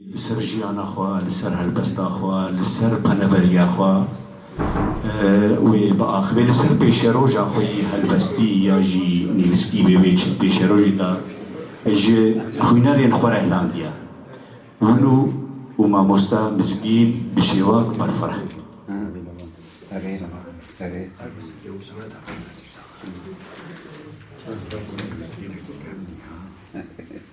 li ser jiyana xwe, li ser helbesta xwe, li ser peneveriya xwe û yê biaxivê li ser pêşeroja xwe yê helbestî ya jî nivîskî bê wê çi pêşerojêka ji xwînerên xwe re hilandiye. Wino û mamoste Mizgîn bi şêwak berfireh bûn.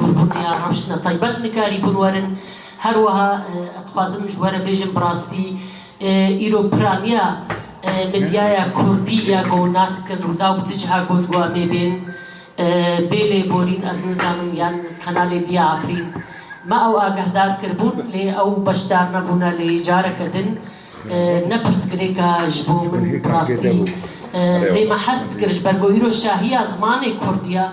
Hûrhûriya rewşna taybet nikarî bûn werin. Her wiha ez dixwazim ji we re bêjim bi rastî îro piraniya medyaya kurdî ya ku nas dikin Rûdaw bi du ciha got ku em ê bên. Bê lêborîn ez nizanim yan kanalê din ya Efrîn me ew agehdar kiribûn lê ew beşdar nebûne lê careke din ne pirsgirêka ji bo min bi rastî lê me hez dikir ji ber ku îro şahiya zimanê kurdî ya.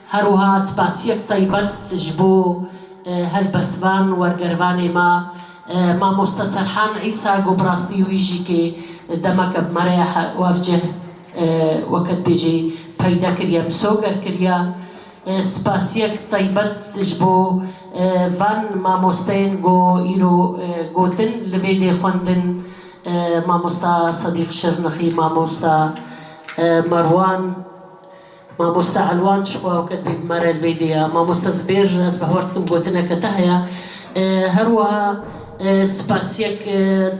Her wiha spasiyek taybet ji bo helbestvan wergerivanê me Mamoste Serhan Îsa ku bi rastî wî jî kê demeke bi me re ya wavcih weketbêjê peyde kiriye misoger kiriye. Spasiyek taybet ji bo van mamosteyên ku îro gotin li vê dê xwendin Mamosta Sedîq Şirnixî, Mamosta Merwan, Mamoste Elwan ji xwe awket bî bimere li vê dê ya. Mamoste Zibêr ez bi hewer dikim gotineke te heye. Her wiha spasiyek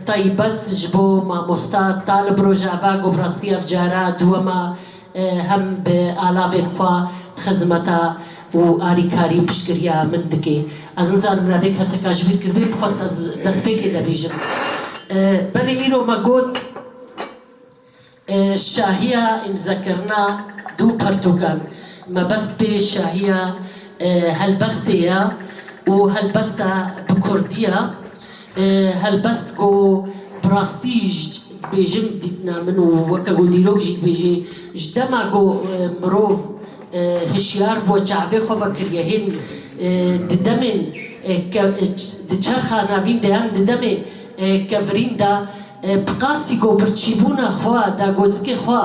taybet ji bo mamosta Talib bi rojeva ku bi rastî ev cara duwema hem bi alavên xwe xizmeta û alîkarî û piştgiriya min dike. Ez nizanim bila vê keseka ji bîr kiribê bi xwest ez destpêkê de bêjim. Belê îro me got. Şahiya îmzekirina du pirtûkan mebest pê şahiya helbestê ye û helbesta bi kurdî ye. Helbest ku bi rastî ji dibêjin dîtina min û weke ku dîrok jî dibêjê ji dema ku mirov hişyar bûye çavê xwe vekiriye hên di demên diçerxa navîn de yan di demê kevirîn de Bi qasî ku birçîbûna xwe, dagozikê xwe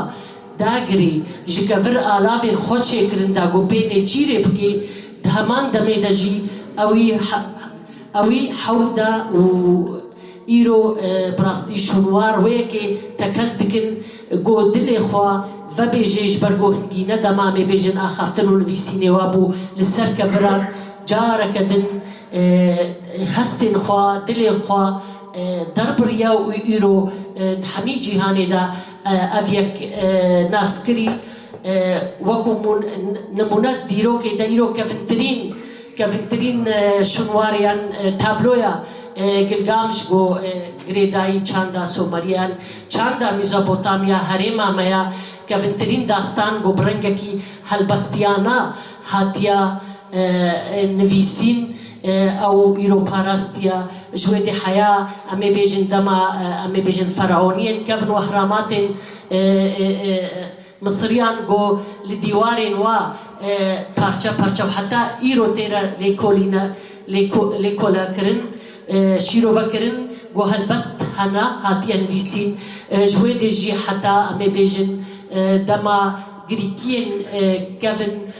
dagirî, ji kevir alavên xwe çêkirin da ku pê nêçîrê bikê, di heman demê de jî ew wî hewil da û îro bi rastî şûnwar wê yekê te kes dikin ku dilê xwe vebêjê ji ber ku hingî ne dema em ê bêjin axaftin û nivîsînê wabû li ser keviran careke din hestên xwe, dilê xwe. derbiriya û îro di hemî cîhanê de ev yek nas kirî wekû nimûne dîrokê de îro kevintirîn kevintirîn şûnwariyan tabloya Gilgamiş bo girêdayî çanda Someriyan çanda Mîzopotamya herêma me ya kevintirîn dastan ku bi rengekî helbestiyana hatiya Nivîsîn, Ew îro parastiya ji wê dê heya, em ê bêjin dema em ê bêjin feraoniyên kevin û ehramatên Misiriyan ku li dîwarên wa parçe parçe û heta îro tê re lêkolekirin, şîrovekirin ku helbest hene, hatiye nivîsîn. Ji wê dê jî heta em ê bêjin dema girîtiyên kevin.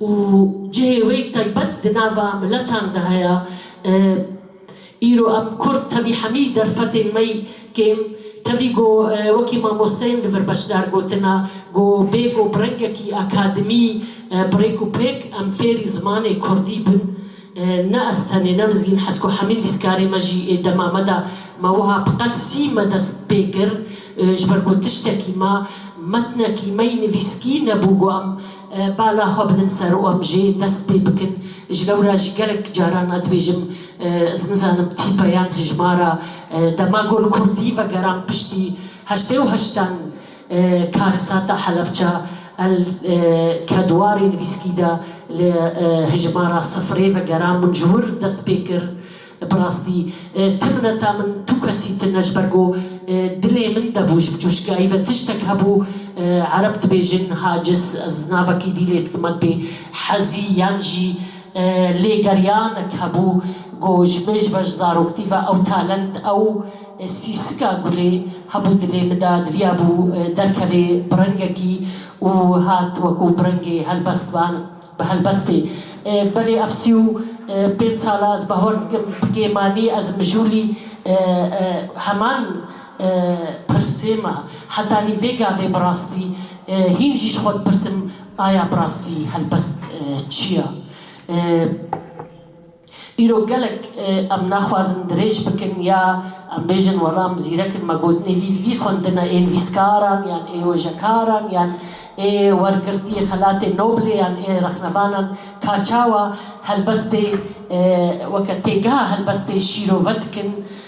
û cihê wê taybet di nava miletan de heye. Îro em kurd tevî hemî derfetên me kêm tevî ku wekî mamosteyên li vir beşdar gotine ku bê ku bi rengekî akademî bi rêk û pêk em fêrî zimanê kurdî bin. Ne ez tenê ne mizgîn hez ku hemî nivîskarê me jî ê dema me de me wiha bi qel sîme dest pê kir ji ber ku tiştekî me, metnekî me yî nivîskî nebû ku em Bala xwe bidin ser û em jê dest pê bikin. Ji lewra jî gelek caran ez dibêjim ez nizanim tîpe yan hijmara dema gol kurdî vegeran piştî heştê û heştan karisata Helebça el kedwarê nivîskî de li hijmara sifirê vegeran min ji wir dest pê kir. Bi rastî tu mineta min tu kesî tin e ji ber ku dilê min de bû ji coşgiyayî ve tiştek hebû ereb dibêjin hacis ez navekî dî lê dikim me dibê hezî yan jî lêgeriyanek hebû ku ji min ji ber ji zaroktî ve ew talent ew sîsika gulê hebû dilê min de diviyabû derkevê bi rengekî û hat weku bi rengê helbestvan Bi helbestê. Belê ev sî û pênc sal e ez bawer dikim bi kêmanî ez mijûlî heman pirsê ma. Hetanî vê gavê bi rastî hîn jî ji xwe dipirsim aya bi rastî helbest çi ya? Îro gelek em naxwazin dirêj bikin ya em bêjin wela em zîrek in me got nêvî vî xwendina ên vîzkaran yan ê wêjekaran yan ê wergirtiyê xelatê Noblê yan ê rexnevanan ka çawa helbestê weke têgeha helbestê şîrove dikin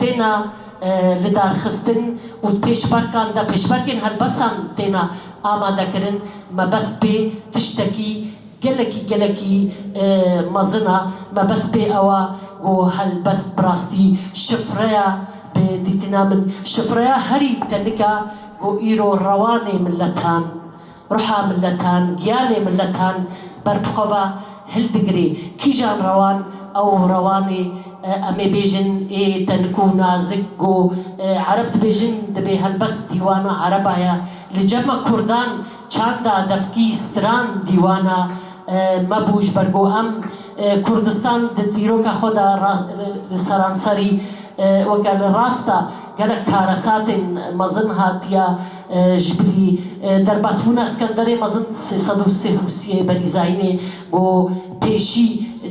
têne lidarxistin û pêşberkan de pêşberkên helbestan têne amadekirin, mebest pê tiştekî gelekî gelekî mezin e. Mebest pê ew e ku helbest bi rastî şifreya bi dîtina min, şifreya herî tenik e ku îro rewanê miletan. Ruha miletan, giyanê miletan ber tu xwe ve hildigirê. Kîjan rewan, ew rewan ê em ê bêjin ê tenik û nazik ku ereb dibêjin dibê helbest dîwana ereba ye. Li cema kurdan çanda, devkî, stran dîwana me bû ji ber ku em Kurdistan di dîroka xwe de li seranserî weke li rasta gelek karesatên mezin hatiye Ji bilî derbasbûna Skenderê mezin sê sed û sih û siyê berî zayînê got, Pêşî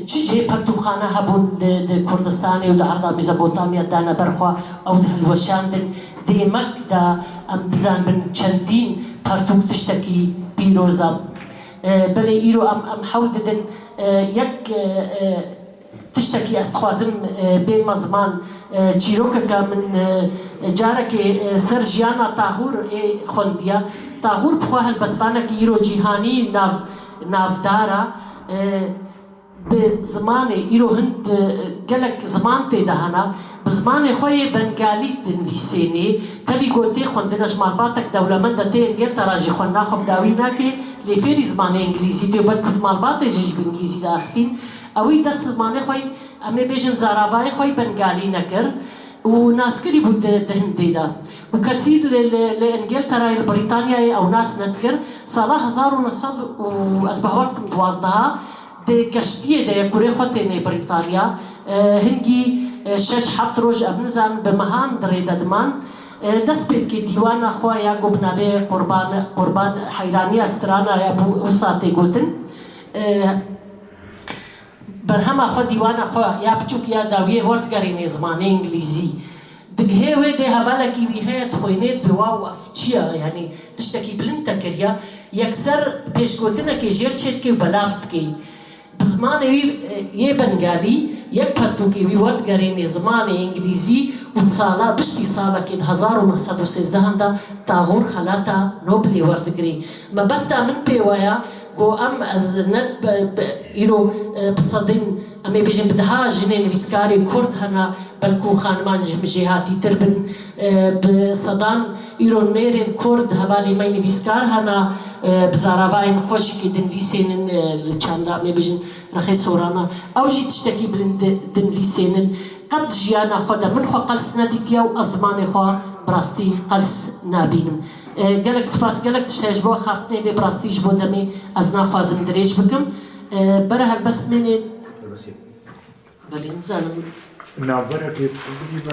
çi cihê pertûkxane hebûn di Kurdistanê û di arda Mîzopotamya dane ber xwe ew dihilweşandin. Dê emek da em bizanbin çendîn pertûk tiştekî pîroz e. Belê îro em em hewl didin yek. Tiştekî ez dixwazim bêrima ziman çîrokeke min carekê ser jiyana Tahûr ê xwendiya. Tahûr bi xwe helbestvanekî îro cîhanî nav navdar a. Bi zimanê îro hin gelek ziman tê de hene. Bi zimanê xwe yê Bengalî dinvîsênê. Tevî gotê xwendina ji malbatek dewlemend e tê Engelter a jî xwenina xwe bi dawî nake lê fêrî zimanê Engilîzî tê û belkû di malbatê jê jî bi Engilîzî de axifîn. Ewî dest zimanê xwe yî, em ê bêjin zaravayê xwe yî Bengalî nekir û nas kirî bû di di Hindî de û kesî li li li Îngilterayê, li Brîtanyayê ew nas nedikir. Sala hezar û neh sed û ez bi hawar dikim duwazdeha dê keştiyê de ye kurê xwe tênê Brîtanya. Hingî şeş heft roj ev nizanin bi mehan di rê de diman. Dest pê dike dîwana xwe ya ku bi navê Qurban Qurban Heyraniya Strana ya bû wisa tê gotin. Berhema xwe dîwana xwe ya biçûk ya dawiyê werdigerînê zimanê îngilîzî. Digihê wê dê hevalekî wî heye dixwînê bi waw ev çi ye yanî tiştekî bilind te kiriye yekser pêşgotinekê jêr çêdikê û belav dikê. Bi zimanê wî yê bengalî yek pertûkê wî werdigerînê zimanê îngilîzî û di sala biştî salekê di hezar û neh sed û sêzdehan de Taxûr xelata Nobilê werdigirê. Mebesta min pê we ya ku em ez ne îro bi sedên em ê bêjin bi deha jinê nivîskarê kurd hene belkû xaniman ji min jî hatîtir bin. Bi sedan îro nêrên kurd hevalên me nivîskar hene bi zaravayên xwe jî kê dinvîsênin li çanda em ê bêjin rexê soran e. Ew jî tiştekî bilind dinvîsênin. Qet di jiyana xwe de min xwe qels nedîtiye û ez zimanê xwe bi rastî qels nabînim. Gelek spas gelek tişt heye ji bo xartinê vê bi rastî ji bo demê ez naxwazim dirêj bikim bere helbest mênê belê nizanim. Navbera pêxî.